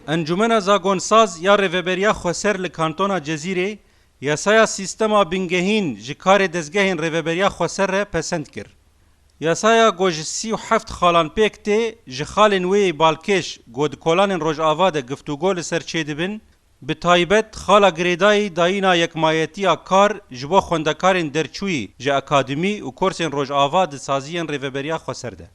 Encûmena Zagonsaz ya Rêveberiya Xweser li Kantona Cezîrê yasaya sîstema bingehîn ji karê dezgehên Rêveberiya Xweser re pesend kir. Yasaya ku ji sî û heft xalan pêk tê, ji xalên wê yê balkêş ku di kolanên Rojava de giftûgo li ser çêdibin, bi taybet xala girêdayî dayîna yekmayetiya kar ji bo xwendekarên derçûyî ji akademî û korsên Rojava di saziyên Rêveberiya Xweser de.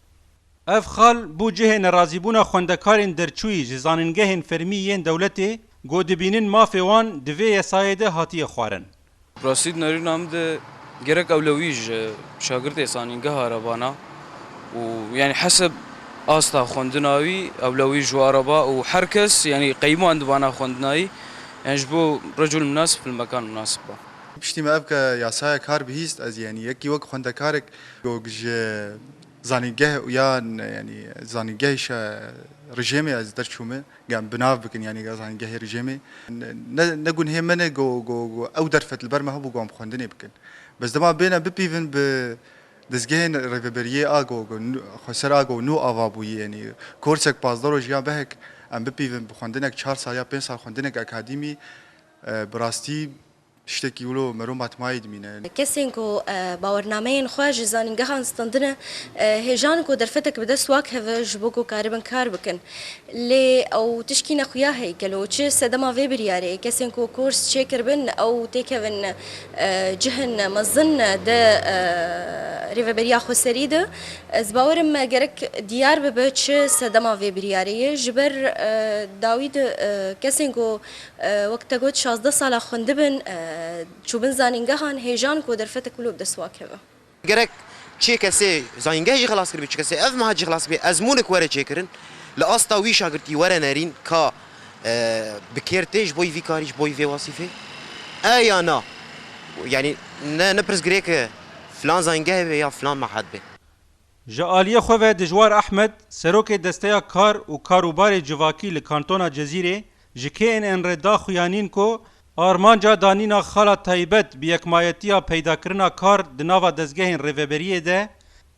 Ev xal bû cihê nerazîbûna xwendekarên derçûyî ji zanîngehên fermî yên dewletê ku dibînin mafê wan di vê yesayê de hatiye xwarin. Raşîd Nerîn Amd gerek ewlewî ji şagirtê zanîngeha re vana û yanî heseb asta xwendina wî ewlewî ji wa re ba û her kes yanî qeyman divana xwendinayî yanî ji bo recûl minasib fil mekan minasib ba. Piştî me ev yasaya kar bihîst ez yanî yekî wek xwendekarek ku ji Zanîngeh ya yanî zanîngehê şe rijêmê ez der çûme gem bi nav bikin yanî zanîngehê rijêmê ne ne gunhê min e go go go ew derfet li ber me hebû go em xwendinê bikin bes dema bêne bipîvin bi dezgehên rêveberiyê a go go xwe ser a go nû ava bûyî yanî korsek pazdeh roj yan behek em bipîvin bi xwendinek çar sal ya pênc sal xwendinek akadîmî bi rastî Tiştekî wilo mero matmayî dimîne. Kesên ku bawernameyên xwe ji zanîngehan standine hêjan ku derfetek bi dest wak heve ji bo ku karibin kar bikin. Lê ew tişkî ne xuya hey gelo çi sedema vê biryarê kesên ku kors çêkiribin ew têkevin cihên mezin di rêveberiya xweserî de. Ez bawer im gerek diyar bibe çi sedema vê biryarê ye ji ber dawî di kesên ku Wek te got şazdeh sala xwendibin, çûbin zanîngehan, hêjan ku derfetek wilo bi dest wan keve. Gerek çêkesê zanîngeh jî xelas kiribê, çêkesê ev meha jî xelas bibê, ezmûnik were çêkirin, li asta wî şagirtî were nerîn ka bi kêr tê ji bo vî karî, ji bo vê wasîfê e ya na. Yanî ne ne pirs girêk e filan zanîngehê be ya filan meha dibê. Ji aliyê xwe ve Dijwar Ehmed, Serokê Desteya Kar û Karûbarê Civakî li Kantona Cezîrê ji KNN'rê da xuyanîn ku armanca danîna xala taybet bi yekmayetiya peydakirina kar di nava dezgehên rêveberiyê de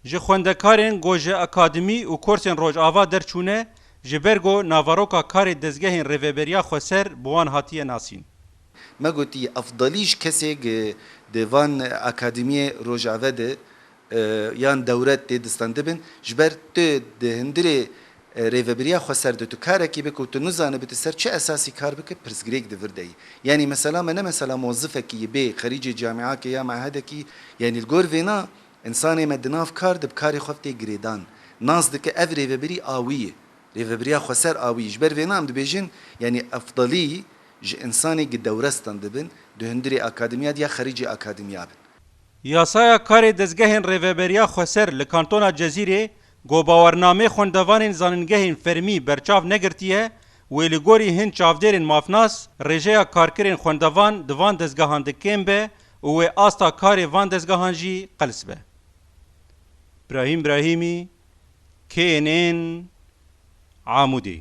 ji xwendekarên ku ji akademî û korsên Rojava derçûne ji ber ku naveroka karê dezgehên rêveberiya xweser bi wan hatiye nasîn. Me gotiye, Efdalî ji kesê ku di van akademiyê Rojava de yan dewre tê distandibin ji ber tu di hindirê rêvebiriya xwe ser de tu karekî bik û tu nizanibî tu ser çi esasî kar bikî pirsgirêk di vir de yî. Yanî mesela me ne mesela mozifekî yî bê xerîcê camîakê ya mehedekî yanî li gor vêna însanê me di nav kar de bi karê xwe tê girêdan nas dike ev rêvebirî a wî yî rêvebiriya xweser a wî yî ji ber vêna em dibêjin yanî efdalî ji însanê gi dewre standibin di hindirê akademîya de ya xerîcê akademîya bin. Yasaya karê dezgehên Rêveberiya Xweser li Kantona Cezîrê ku bawernameyê xwendevanên zanîngehên fermî berçav negirtiye wê li gorî hin çavdêrên mafnas rêjeya karkirên xwendevan di van dezgehan de kêm be û wê asta karê van dezgehan jî qels be. Brahîm Brahîmî, KNN, Amûdê.